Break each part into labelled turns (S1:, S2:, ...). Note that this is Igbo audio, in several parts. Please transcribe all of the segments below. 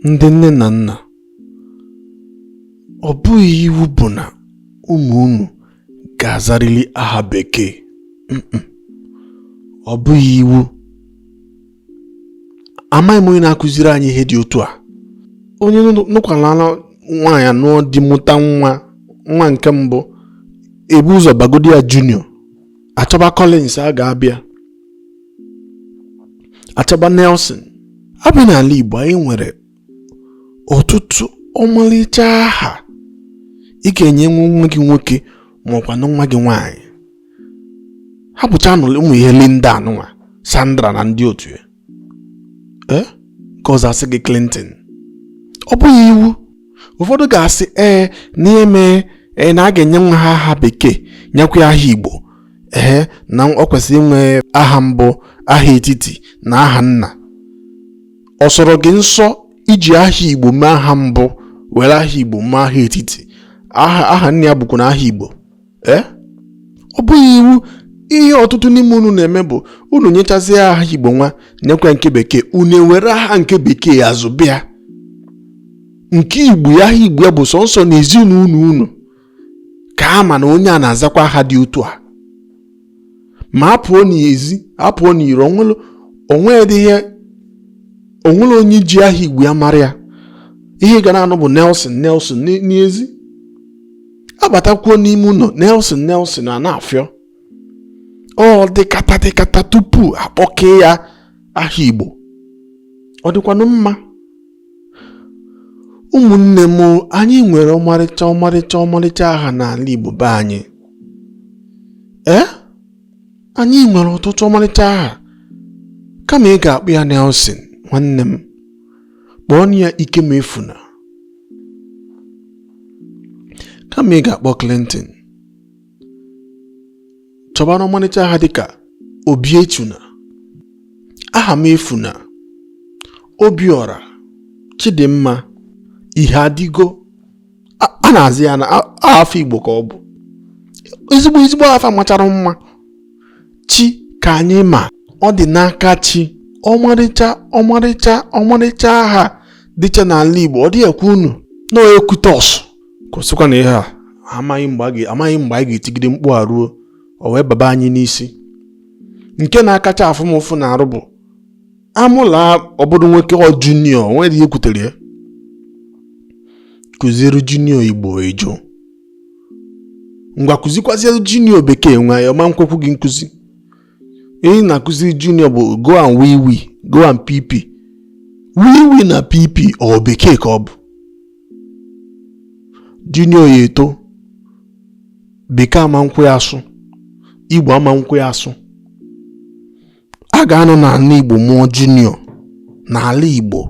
S1: ndị nne na nna ọ bụghị iwu bụ na ụmụ unu ga-azarịrị aha bekee ọ bụghị iwu amaghị m onye na-akụziri anyị ihe dị otu a onye nụkwala nwaanyị anụọ di mụta nwa nwa nke mbụ ebu ụzọ bagodi ya junior achọba Collins a ga-aba ya Achọba Nelson abịa n'ala Igbo anyị nwere ọtụtụ ọmalịcha aha ị ga-enye nwa gị nwoke ma ọ kwanụ nwa gị nwaanyị hapụchanụ ụmụ ihe Linda anụnwa Sandra na ndị otu ya ee nke ọzọ asị gị Clinton ọ bụghị iwu ụfọdụ ga-asị ee na eme ee na a ga-enye nwa ha aha bekee nyekwa ya aha Igbo ehe na ọ kwesịrị inwe aha mbụ aha etiti na aha nna ọ sọrọ gị nsọ iji aha igbo mee aha mbụ were aha igbo mee aha etiti aha aha nna ya bụkwanụ aha igbo ee eh? ọ bụghị iwu ihe ọtụtụ n'ime unu na-eme bụ unu nyechazie aha igbo nwa nyekwa nke bekee unu ewere aha nke bekee ya zụba ya nke igbo ya aha igbo ya bụ sọnsọ na ezinụlọ unu ka a ma na onye a na-azakwa aha dị otu a ma a pụọ n'ezi a pụọ n'iro o nwedịghị o nwere onye ji aha igbo ya mara ya ihe ị ga na-anụ bụ Nelson Nelson n'ezi abatakwuo n'ime ụlọ Nelson Nelson a na-afịọ ọ dịkata dịkata tupu akpọkee ya aha igbo ọ dịkwanụ mma ụmụnne m anyị nwere ọmarịcha ọmarịcha ọmarịcha aha n'ala Igbo be anyị ee anyị nwere ọtụtụ ọmarịcha aha kama ị ga-akpọ ya Nelson nwanne m kpọọnụ ya Ikemefuna kama ị ga-akpọ Clinton chọbanụ ọmalịcha aha dịka obiechina ahamefuna obiọra chidimma iheadịgo a na-azị ya na afa igbo ka ọ bụ ezigbo ezigbo afa machara mma chikanyịma ọdịnakachi ọmarịcha ọmarịcha ọmarịcha aha dịcha n'ala igbo ọ dị ekwe unu na ekwutọs kwụsịkwanụ ihe a amaghị mgbe amaghị mgbe anyị ga-etigide mkpu a ruo o wee baba anyị n'isi nke na-akacha afụ m ụfụ n'arụ bụ a mụla ọ bụrụ nwoke ọ junior nwere ihe kwutere ya kụziere junior igbo ejo ngwa kụzikwaziere junior bekee nwa ya ọ ma nkwekwu gị nkụzi ihe ị na-akụziri junior bụ go and wee wee go and pp wee wee na pp ọ bekee ka ọ bụ junior ya eto bekee ama nkwe ya asụ igbo ama nkwe ya asụ a ga-anọ n'ala igbo mụọ junior n'ala igbo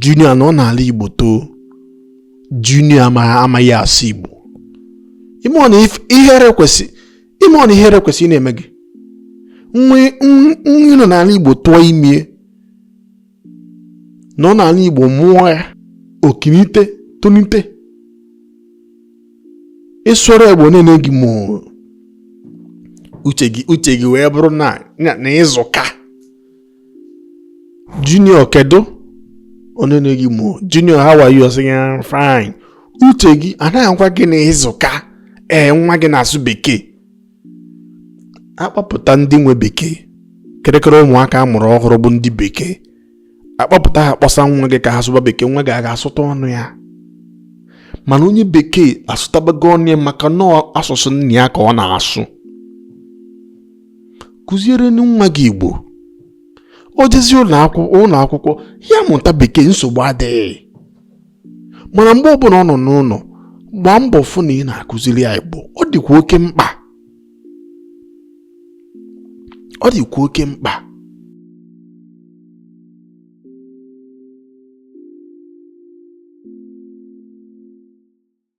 S1: junior nọ n'ala igbo too junior amaghị asụ igbo ị marọ na ihere kwesịrị ị marọ na ihere kwesịrị ịna-eme gị nwa ị nọ n'ala Igbo tụọ ime ya nọ n'ala Igbo mụọ ya o kunite tonite ị sụrụ Igbo ọ na-ene gị mọọ uche gị wee bụrụ na na ị zụka junior kedu ọ na-ene gị mọọ junior how are you ọ sị ya fine uche gị a na-agwa gị na ị zụka ee nwa gị na-asụ bekee a kpọpụta ndị nwe bekee kịrịkịrị ụmụaka a mụrụ ọhụrụ bụ ndị bekee a kpọpụta ha kpọsa nwa gị ka ha sụba bekee nwa gị aga asụta ọnụ ya mana onye bekee asụtabago ọnụ ya maka na ọ asụsụ nna ya ka ọ na-asụ kụziere nwa gị igbo o jezie ụlọ akwụkwọ ya mụta bekee nsogbu adịghị mana mgbe ọbụla ọ nọ n'ụlọ gbaa mbọ fụ na ị na-akụziri ya igbo ọ dịkwa oke mkpa ọ dịkwa oke mkpa